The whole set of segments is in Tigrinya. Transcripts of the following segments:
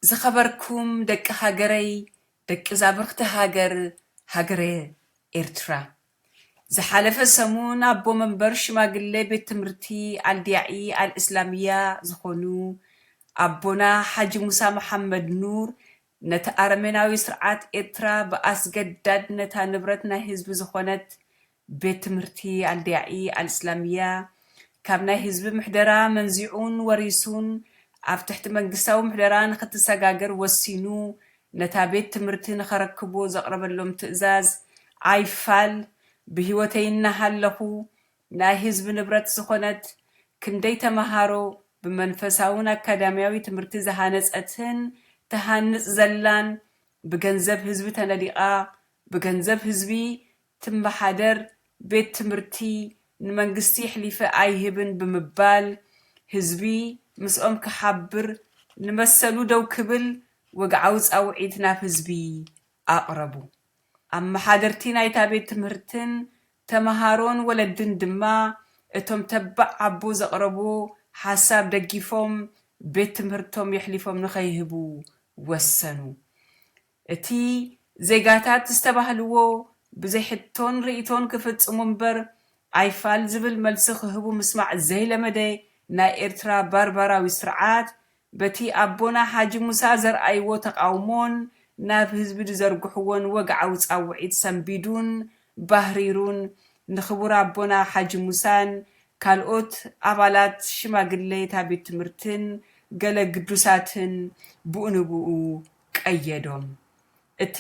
ዝኸበርኩም ደቂ ሃገረይ ደቂ ዛብርኽቲ ሃገር ሃገረ ኤርትራ ዝሓለፈ ሰሙን ኣቦ መንበር ሽማግሌ ቤት ትምህርቲ ኣልዲያዒ ኣልእስላምያ ዝኾኑ ኣቦና ሓጂ ሙሳ መሓመድ ኑር ነቲ ኣረሜናዊ ስርዓት ኤርትራ ብኣስገዳድ ነታ ንብረት ናይ ህዝቢ ዝኾነት ቤት ትምህርቲ ኣልዲያኢ ኣልእስላሚያ ካብ ናይ ህዝቢ ምሕደራ መንዚዑን ወሪሱን ኣብ ትሕቲ መንግስታዊ ምሕደራ ንኽትሰጋገር ወሲኑ ነታ ቤት ትምህርቲ ንኸረክቡ ዘቕረበሎም ትእዛዝ ኣይፋል ብህይወተይ እናሃለኹ ናይ ህዝቢ ንብረት ዝኾነት ክንደይ ተመሃሮ ብመንፈሳውን ኣካዳሚያዊ ትምህርቲ ዝሃነፀትን ትሃንፅ ዘላን ብገንዘብ ህዝቢ ተነዲቓ ብገንዘብ ህዝቢ ትመሓደር ቤት ትምህርቲ ንመንግስቲ የሕሊፈ ኣይህብን ብምባል ህዝቢ ምስኦም ክሓብር ንመሰሉ ደው ክብል ወግዓዊ ጻውዒት ናብ ህዝቢ ኣቕረቡ። ኣመሓደርቲ ናይታ ቤት ትምህርትን ተመሃሮን ወለድን ድማ እቶም ተባዕ ኣቦ ዘቕረብዎ ሓሳብ ደጊፎም ቤት ትምህርቶም የሕሊፎም ንኸይህቡ ወሰኑ። እቲ ዜጋታት ዝተባህልዎ ብዘይ ሕቶን ርእይቶን ክፍጽሙ እምበር ኣይፋል ዝብል መልሲ ክህቡ ምስማዕ ዘይለመደ ናይ ኤርትራ ባርባራዊ ስርዓት በቲ ኣቦና ሓጂ ሙሳ ዘርኣይዎ ተቓውሞን ናብ ህዝቢ ዝዘርግሕዎን ወግዓዊ ጻውዒት ሰንቢዱን ባህሪሩን ንክቡር ኣቦና ሓጂ ሙሳን ካልኦት ኣባላት ሽማግሌ እታ ቤት ትምህርትን ገለ ግዱሳትን ብኡንብኡ ቀየዶም። እቲ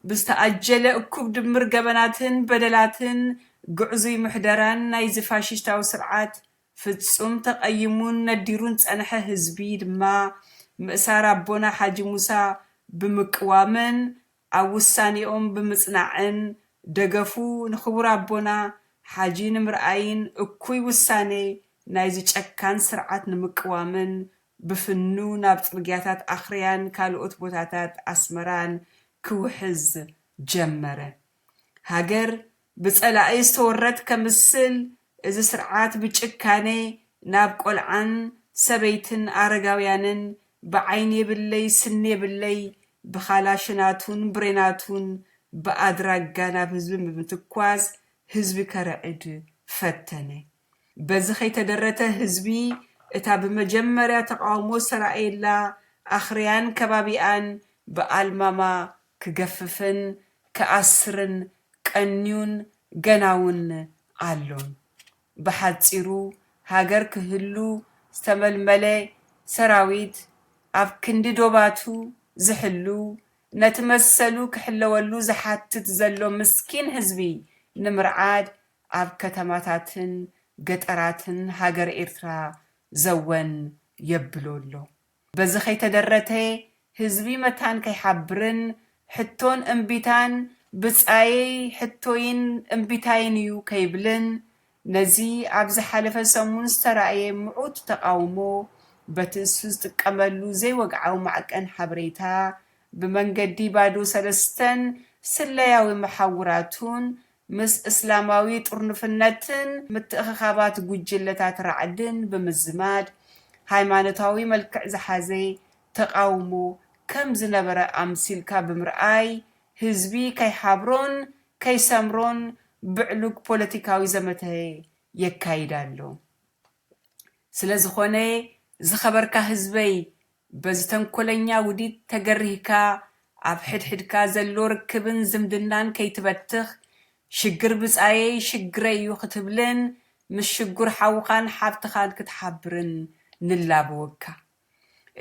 ብዝተኣጀለ እኩብ ድምር ገበናትን በደላትን ግዕዙይ ምሕደራን ናይዚ ፋሽሽታዊ ስርዓት ፍጹም ተቐይሙን ነዲሩን ዝጸንሐ ህዝቢ ድማ ምእሳር ኣቦና ሓጂ ሙሳ ብምቅዋምን ኣብ ውሳኔኦም ብምጽናዕን ደገፉ ንክቡር ኣቦና ሓጂ ንምርኣይን እኩይ ውሳኔ ናይዚ ጨካን ስርዓት ንምቅዋምን ብፍኑ ናብ ጽርግያታት ኣኽርያን ካልኦት ቦታታት ኣስመራን ክውሕዝ ጀመረ። ሃገር ብጸላኢ ዝተወረት ከምስል፣ እዚ ስርዓት ብጭካነ ናብ ቆልዓን ሰበይትን ኣረጋውያንን ብዓይኒ የብለይ ስኒ የብለይ ብካላሽናቱን ብሬናቱን ብኣድራጋ ናብ ህዝቢ ብምትኳስ ህዝቢ ከርዕድ ፈተነ። በዚ ከይተደረተ ህዝቢ እታ ብመጀመርያ ተቓውሞ ዝተራእየላ ኣኽርያን ከባቢኣን ብኣልማማ ክገፍፍን ክኣስርን ቀንዩን ገናውን ኣሎን። ብሓጺሩ ሃገር ክህሉ ዝተመልመለ ሰራዊት ኣብ ክንዲ ዶባቱ ዝሕሉ ነቲ መሰሉ ክሕለወሉ ዝሓትት ዘሎ ምስኪን ህዝቢ ንምርዓድ ኣብ ከተማታትን ገጠራትን ሃገረ ኤርትራ ዘወን የብሎ ኣሎ። በዚ ከይተደረተ ህዝቢ መታን ከይሓብርን ሕቶን እምቢታን ብጻየይ ሕቶይን እምቢታይን እዩ ከይብልን ነዚ ኣብ ዝሓለፈ ሰሙን ዝተራእየ ምዑት ተቓውሞ በቲ ንሱ ዝጥቀመሉ ዘይወግዓዊ ማዕቀን ሓበሬታ ብመንገዲ ባዶ ሰለስተን ስለያዊ መሓውራቱን ምስ እስላማዊ ጥርኑፍነትን ምትእኽኻባት ጉጅለታት ራዕድን ብምዝማድ ሃይማኖታዊ መልክዕ ዝሓዘ ተቓውሞ ከም ዝነበረ ኣምሲልካ ብምርኣይ ህዝቢ ከይሓብሮን ከይሰምሮን ብዕሉግ ፖለቲካዊ ዘመተ የካይድ ኣሎ። ስለዝኾነ ዝኸበርካ ህዝበይ በዚ ተንኮለኛ ውዲት ተገሪህካ ኣብ ሕድሕድካ ዘሎ ርክብን ዝምድናን ከይትበትኽ፣ ሽግር ብጻየይ ሽግረይ'ዩ ክትብልን ምስ ሽጉር ሓውኻን ሓብትኻን ክትሓብርን ንላበወካ።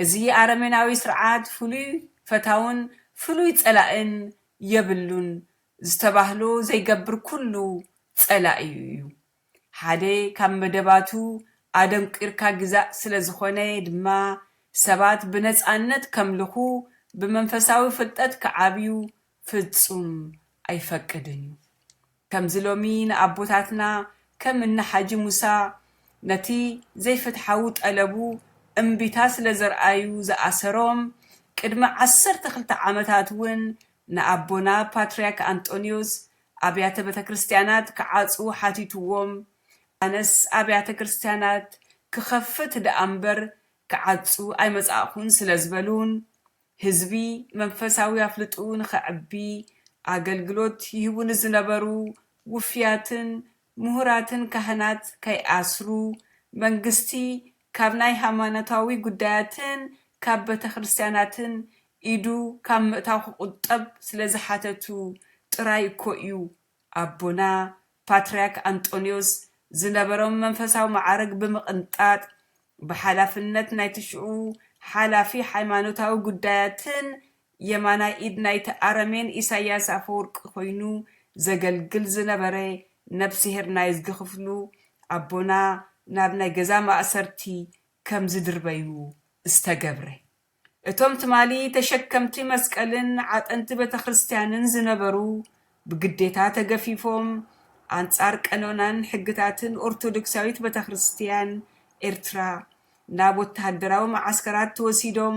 እዚ ኣረሜናዊ ስርዓት ፍሉይ ፈታውን ፍሉይ ጸላእን የብሉን ዝተባህሎ ዘይገብር ኩሉ ጸላኢኡ እዩ። ሓደ ካብ መደባቱ ኣደንቊርካ ግዛእ ስለ ዝዀነ ድማ፣ ሰባት ብነጻነት ከምልኹ፣ ብመንፈሳዊ ፍልጠት ክዓብዩ ፍጹም ኣይፈቅድን እዩ። ከምዚ ሎሚ ንኣቦታትና ከም እኒ ሓጂ ሙሳ ነቲ ዘይፍትሓዊ ጠለቡ እምቢታ ስለ ዘርኣዩ ዝኣሰሮም፣ ቅድሚ ዓሰርተ ክልተ ዓመታት እውን ንኣቦና ፓትርያክ ኣንጦንዮስ ኣብያተ ቤተክርስትያናት ክዓጽዉ ሓቲትዎም፣ ኣነስ ኣብያተ ክርስትያናት ክኸፍት ደኣ እምበር ክዓጹ ኣይመጻእኹን ስለ ዝበሉን ህዝቢ መንፈሳዊ ኣፍልጥኡ ንኸዕቢ ኣገልግሎት ይህቡ ንዝነበሩ ውፍያትን ምሁራትን ካህናት ከይኣስሩ መንግስቲ ካብ ናይ ሃይማኖታዊ ጉዳያትን ካብ ቤተክርስትያናትን ኢዱ ካብ ምእታው ክቑጠብ ስለ ዝሓተቱ ጥራይ እኮ'ዩ ኣቦና ፓትርያክ ኣንጦንዮስ ዝነበሮም መንፈሳዊ መዓርግ ብምቕንጣጥ ብሓላፍነት ናይቲ ሽዑ ሓላፊ ሃይማኖታዊ ጉዳያትን የማናይ ኢድ ናይቲ ኣረሜን ኢሳያስ ኣፈወርቂ ኮይኑ ዘገልግል ዝነበረ ነፍስሄር ናይዝጊ ክፍሉ ኣቦና ናብ ናይ ገዛ ማእሰርቲ ከም ዝድርበዩ ዝተገብረ። እቶም ትማሊ ተሸከምቲ መስቀልን ዓጠንቲ ቤተክርስትያንን ዝነበሩ ብግዴታ ተገፊፎም ኣንጻር ቀኖናን ሕግታትን ኦርቶዶክሳዊት ቤተክርስትያን ኤርትራ ናብ ወተሃደራዊ መዓስከራት ተወሲዶም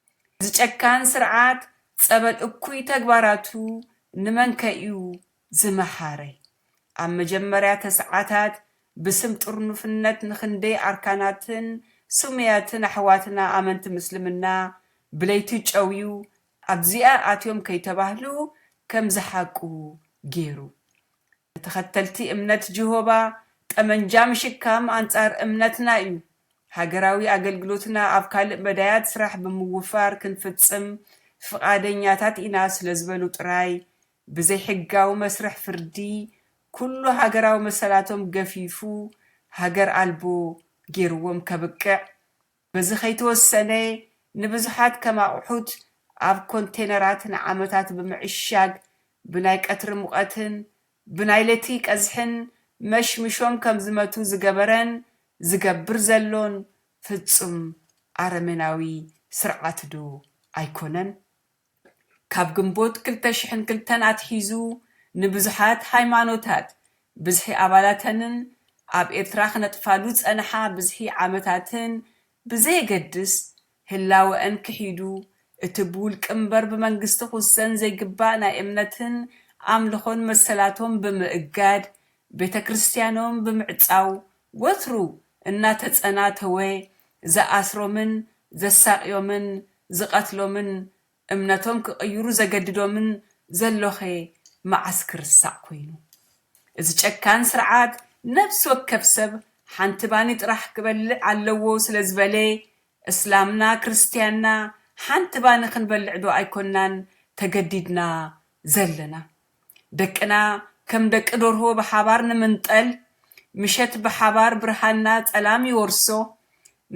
እዚ ጨካን ስርዓት ጸበል እኩይ ተግባራቱ ንመንከ'ዩ ዝመሃረ? ኣብ መጀመርያ ተስዓታት ብስም ጥርኑፍነት ንኽንደይ ኣርካናትን ስሙያትን ኣሕዋትና ኣመንቲ ምስልምና ብለይቲ ጨውዩ ኣብዚኣ ኣትዮም ከይተባህሉ ከም ዝሓቁ ጌሩ። ንተኸተልቲ እምነት ጅሆባ ጠመንጃ ምሽካም ኣንጻር እምነትና እዩ። ሃገራዊ ኣገልግሎትና ኣብ ካልእ መዳያት ስራሕ ብምውፋር ክንፍጽም ፍቓደኛታት ኢና ስለ ዝበሉ ጥራይ፣ ብዘይሕጋዊ መስርሕ ፍርዲ ኩሉ ሃገራዊ መሰላቶም ገፊፉ ሃገር ኣልቦ ገይሩዎም ከብቅዕ፣ በዚ ከይተወሰነ ንብዙሓት ከም ኣቑሑት ኣብ ኮንቴነራት ንዓመታት ብምዕሻግ ብናይ ቀትሪ ሙቐትን ብናይ ለቲ ቀዝሕን መሽሚሾም ከም ዝመቱ ዝገበረን ዝገብር ዘሎን ፍጹም ኣረሜናዊ ስርዓት'ዶ ኣይኮነን? ካብ ግንቦት ክልተ ሽሕን ክልተን ኣትሒዙ ንብዙሓት ሃይማኖታት ብዝሒ ኣባላተንን ኣብ ኤርትራ ክነጥፋሉ ዝጸንሓ ብዝሒ ዓመታትን ብዘየገድስ ህላወኣን ክሒዱ እቲ ብውልቂ እምበር ብመንግስቲ ክውሰን ዘይግባእ ናይ እምነትን ኣምልኾን መሰላቶም ብምእጋድ ቤተክርስትያኖም ብምዕጻው ወትሩ እናተጸናተወ ዝኣስሮምን ዘሳቕዮምን ዝቐትሎምን እምነቶም ክቕይሩ ዘገድዶምን ዘሎኸ መዓስ ክርሳዕ ኮይኑ? እዚ ጨካን ስርዓት ነብሲ ወከፍ ሰብ ሓንቲ ባኒ ጥራሕ ክበልዕ ኣለዎ ስለ ዝበለ እስላምና ክርስትያንና ሓንቲ ባኒ ክንበልዕዶ ኣይኮናን ተገዲድና ዘለና? ደቅና ከም ደቂ ደርሆ ብሓባር ንምንጠል፣ ምሸት ብሓባር ብርሃንና ጸላም ይወርሶ፣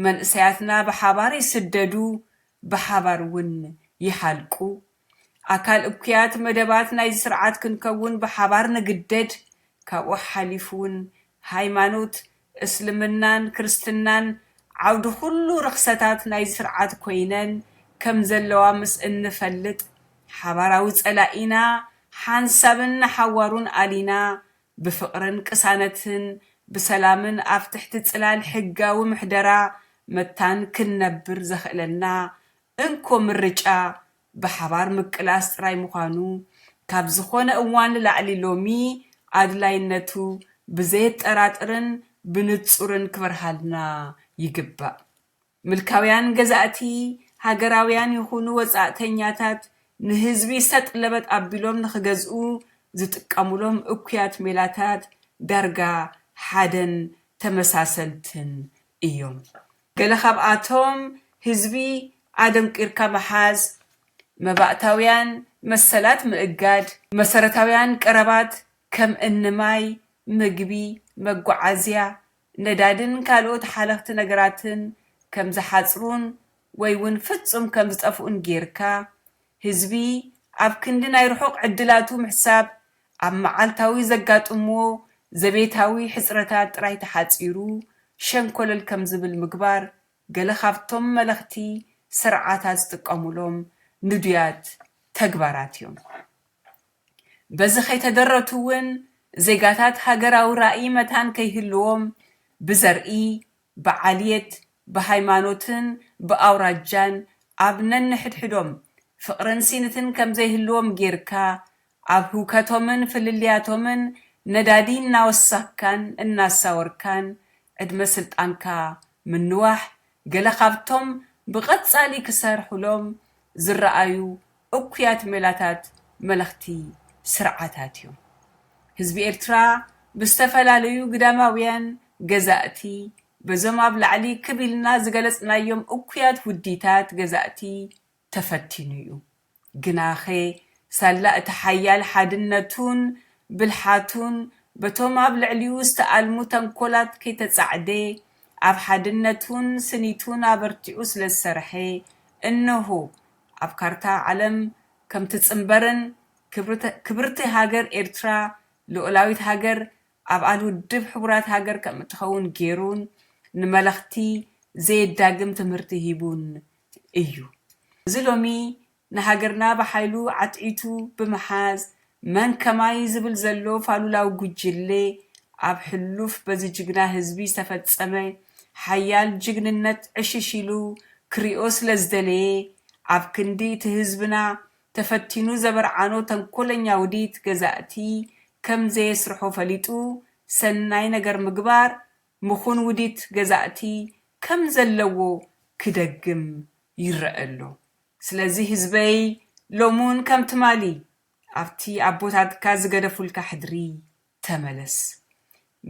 መንእሰያትና ብሓባር ይስደዱ ብሓባር እውን ይሃልቁ። ኣካል እኩያት መደባት ናይዚ ስርዓት ክንከውን ብሓባር ንግደድ፣ ካብኡ ሓሊፉ እውን ሃይማኖት፣ እስልምናን ክርስትናን ዓውዲ ኩሉ ርኽሰታት ናይዚ ስርዓት ኮይነን ከም ዘለዋ ምስ እንፈልጥ፣ ሓባራዊ ጸላኢና ሓንሳብን ንሓዋሩን ኣሊና፣ ብፍቕርን ቅሳነትን ብሰላምን ኣብ ትሕቲ ጽላል ሕጋዊ ምሕደራ መታን ክንነብር ዘኽእለና እንኮ ምርጫ ብሓባር ምቅላስ ጥራይ ምዃኑ፣ ካብ ዝኾነ እዋን ንላዕሊ ሎሚ ኣድላይነቱ ብዘየጠራጥርን ብንጹርን ክበርሃልና ይግባእ። ምልካውያን ገዛእቲ፣ ሃገራውያን ይኹኑ ወጻእተኛታት፣ ንህዝቢ ሰጥ ለበጥ ኣቢሎም ንኽገዝኡ ዝጥቀሙሎም እኩያት ሜላታት ዳርጋ ሓደን ተመሳሰልትን እዮም ገለ ካብኣቶም ህዝቢ ኣደንቂርካ ምሓዝ፣ መባእታውያን መሰላት ምእጋድ፣ መሰረታውያን ቀረባት ከም እኒ ማይ፣ ምግቢ፣ መጓዓዝያ፣ ነዳዲን ካልኦት ሓለኽቲ ነገራትን ከም ዝሓጽሩን ወይ ውን ፍጹም ከም ዝጠፍኡን ጌርካ ህዝቢ ኣብ ክንዲ ናይ ርሑቕ ዕድላቱ ምሕሳብ ኣብ መዓልታዊ ዘጋጥምዎ ዘቤታዊ ሕጽረታት ጥራይ ተሓጺሩ ሸንኮለል ከም ዝብል ምግባር ገለ ካብቶም መለኽቲ ስርዓታት ዝጥቀሙሎም ንዱያት ተግባራት እዮም። በዚ ከይተደረቱ እውን ዜጋታት ሃገራዊ ራእይ መታን ከይህልዎም ብዘርኢ ብዓልየት፣ ብሃይማኖትን ብኣውራጃን ኣብ ነንሕድሕዶም ፍቕርን ሲንትን ከምዘይህልዎም ጌርካ ኣብ ህውከቶምን ፍልልያቶምን ነዳዲ እናወሳክካን እናሳወርካን ዕድመ ስልጣንካ ምንዋሕ ገለ ካብቶም ብቐጻሊ ክሰርሑሎም ዝረኣዩ እኩያት ሜላታት መለኽቲ ስርዓታት እዮም። ህዝቢ ኤርትራ ብዝተፈላለዩ ግዳማውያን ገዛእቲ በዞም ኣብ ላዕሊ ክብ ኢልና ዝገለጽናዮም እኩያት ውዲታት ገዛእቲ ተፈቲኑ እዩ። ግናኸ ሳላ እቲ ሓያል ሓድነቱን ብልሓቱን በቶም ኣብ ልዕሊኡ ዝተኣልሙ ተንኮላት ከይተጻዕደ ኣብ ሓድነቱን ስኒቱን ኣበርቲዑ ስለዝሰርሐ እነሆ ኣብ ካርታ ዓለም ከም ትጽንበርን ክብርቲ ሃገር ኤርትራ ልኡላዊት ሃገር ኣባል ውድብ ሕቡራት ሃገር ከም እትኸውን ገይሩን ንመለኽቲ ዘየዳግም ትምህርቲ ሂቡን እዩ። እዚ ሎሚ ንሃገርና ብሓይሉ ዓትዒቱ ብምሓዝ መን ከማይ ዝብል ዘሎ ፋሉላዊ ጉጅሌ ኣብ ሕሉፍ በዚ ጅግና ህዝቢ ዝተፈጸመ ሓያል ጅግንነት ዕሽሽ ኢሉ ክሪኦ ስለ ዝደለየ ኣብ ክንዲ እቲ ህዝብና ተፈቲኑ ዘበርዓኖ ተንኮለኛ ውዲት ገዛእቲ ከም ዘየስርሖ ፈሊጡ ሰናይ ነገር ምግባር ምኹን ውዲት ገዛእቲ ከም ዘለዎ ክደግም ይረኣ ኣሎ። ስለዚ ህዝበይ ሎምውን ከም ትማሊ ኣብቲ ኣቦታትካ ዝገደፉልካ ሕድሪ ተመለስ።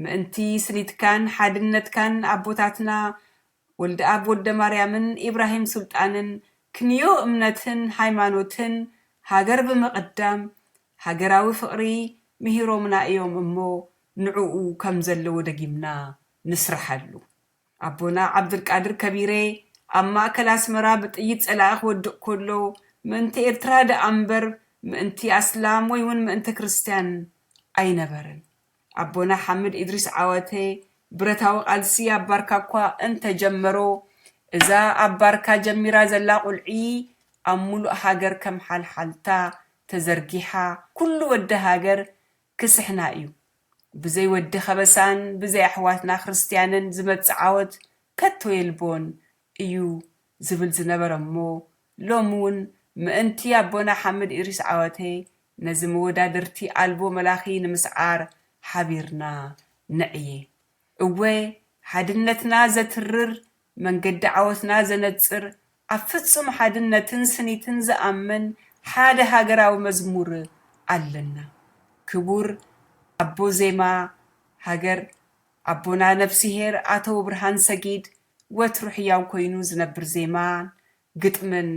ምእንቲ ስኒትካን ሓድነትካን ኣቦታትና ወልደኣብ ወልደማርያምን ኢብራሂም ሱልጣንን ክንዮ እምነትን ሃይማኖትን ሃገር ብምቕዳም ሃገራዊ ፍቕሪ ምሂሮምና እዮም እሞ ንዕኡ ከም ዘለዎ ደጊምና ንስርሓሉ። ኣቦና ዓብዱልቃድር ከቢሬ ኣብ ማእከል ኣስመራ ብጥይት ጸላኢ ክወድቕ ከሎ ምእንቲ ኤርትራ ደኣ እምበር ምእንቲ ኣስላም ወይ ውን ምእንቲ ክርስትያን ኣይነበረን። ኣቦና ሓምድ ኢድሪስ ዓዋተ ብረታዊ ቃልሲ ኣብ ባርካ እኳ እንተ ጀመሮ እዛ ኣብ ባርካ ጀሚራ ዘላ ቁልዒ ኣብ ምሉእ ሃገር ከም ሓልሓልታ ተዘርጊሓ ኩሉ ወዲ ሃገር ክስሕና እዩ ብዘይ ወዲ ከበሳን ብዘይ ኣሕዋትና ክርስትያንን ዝመጽእ ዓወት ከቶ የልቦን እዩ ዝብል ዝነበረ እሞ ሎሚ ውን ምእንቲ ኣቦና ሓምድ ኢሪስ ዓወተ ነዚ መወዳድርቲ ኣልቦ መላኺ ንምስዓር ሓቢርና ንዕየ እወ ሓድነትና ዘትርር መንገዲ ዓወትና ዘነጽር፣ ኣብ ፍጹም ሓድነትን ስኒትን ዝኣምን ሓደ ሃገራዊ መዝሙር ኣለና። ክቡር ኣቦ ዜማ ሃገር ኣቦና ነፍስሄር ኣቶ ውብርሃን ሰጊድ ወትሩ ሕያው ኮይኑ ዝነብር ዜማን ግጥምን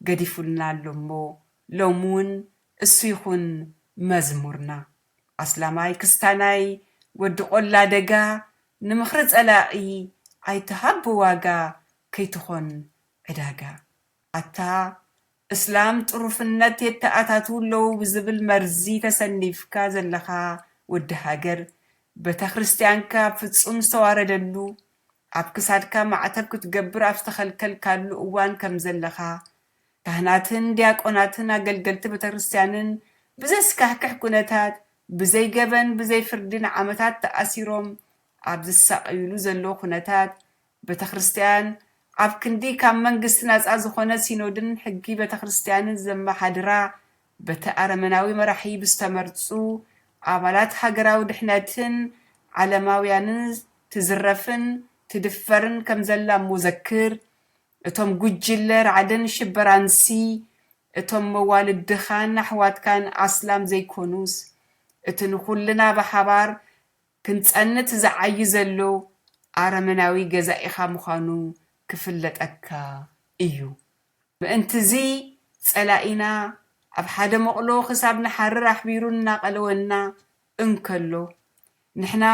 ገዲፉልና ኣሎ'ሞ ሎሚ'ውን እሱ ይኹን መዝሙርና። ኣስላማይ ክስታናይ ወዲ ቆላ ደጋ ንምኽሪ ጸላኢ ኣይትሃብ ብዋጋ ከይትኾን ዕዳጋ ኣታ እስላም ጥሩፍነት የተኣታትዉ ኣለዉ ብዝብል መርዚ ተሰኒፍካ ዘለኻ ወዲ ሃገር በተክርስትያንካ ኣብ ፍጹም ዝተዋረደሉ ኣብ ክሳድካ ማዕተብ ክትገብር ኣብ ዝተኸልከልካሉ እዋን ከምዘለኻ ካህናትን ዲያቆናትን ኣገልገልቲ ቤተክርስትያንን ብዘስካሕክሕ ኩነታት ብዘይ ገበን ብዘይ ፍርዲ ንዓመታት ተኣሲሮም ኣብ ዝሳቐዩሉ ዘለዉ ኩነታት ቤተክርስትያን ኣብ ክንዲ ካብ መንግስቲ ናጻ ዝኾነ ሲኖድን ሕጊ ቤተክርስትያንን ዘመሓድራ በቲ ኣረመናዊ መራሒ ብዝተመርጹ ኣባላት ሃገራዊ ድሕነትን ዓለማውያንን ትዝረፍን ትድፈርን ከምዘላ እሞ ዘክር እቶም ጉጅለ ራዕድን ሽበራንሲ እቶም መዋልድኻን ኣሕዋትካን ኣስላም ዘይኮኑስ እቲ ንኹልና ብሓባር ክንጸንት ዝዓዪ ዘሎ ኣረመናዊ ገዛኢኻ ምዃኑ ክፍለጠካ እዩ። ምእንት'ዚ ጸላኢና ኣብ ሓደ መቕሎ ክሳብ ንሓርር ኣሕቢሩን እናቐለወና እንከሎ፣ ንሕና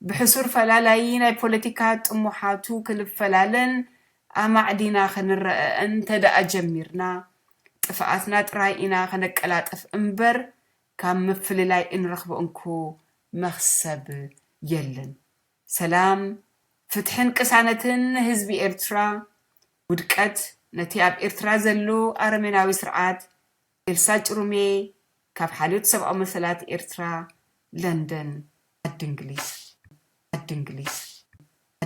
ብሕሱር ፈላላዪ ናይ ፖለቲካ ጥሙሓቱ ክንፈላለን ኣማዕዲና ክንረኣእን እንተደኣ ጀሚርና፣ ጥፍኣትና ጥራይ ኢና ከነቀላጥፍ እምበር ካብ ምፍልላይ እንረኽቦ እንኮ መኽሰብ የለን። ሰላም፣ ፍትሕን ቅሳነትን ንህዝቢ ኤርትራ፣ ውድቀት ነቲ ኣብ ኤርትራ ዘሎ ኣረሜናዊ ስርዓት ኤልሳ ጭሩሜ ካብ ሓልዮት ሰብኣዊ መሰላት ኤርትራ ለንደን ዓዲ እንግሊዝ ዓዲ እንግሊዝ ዓዲ።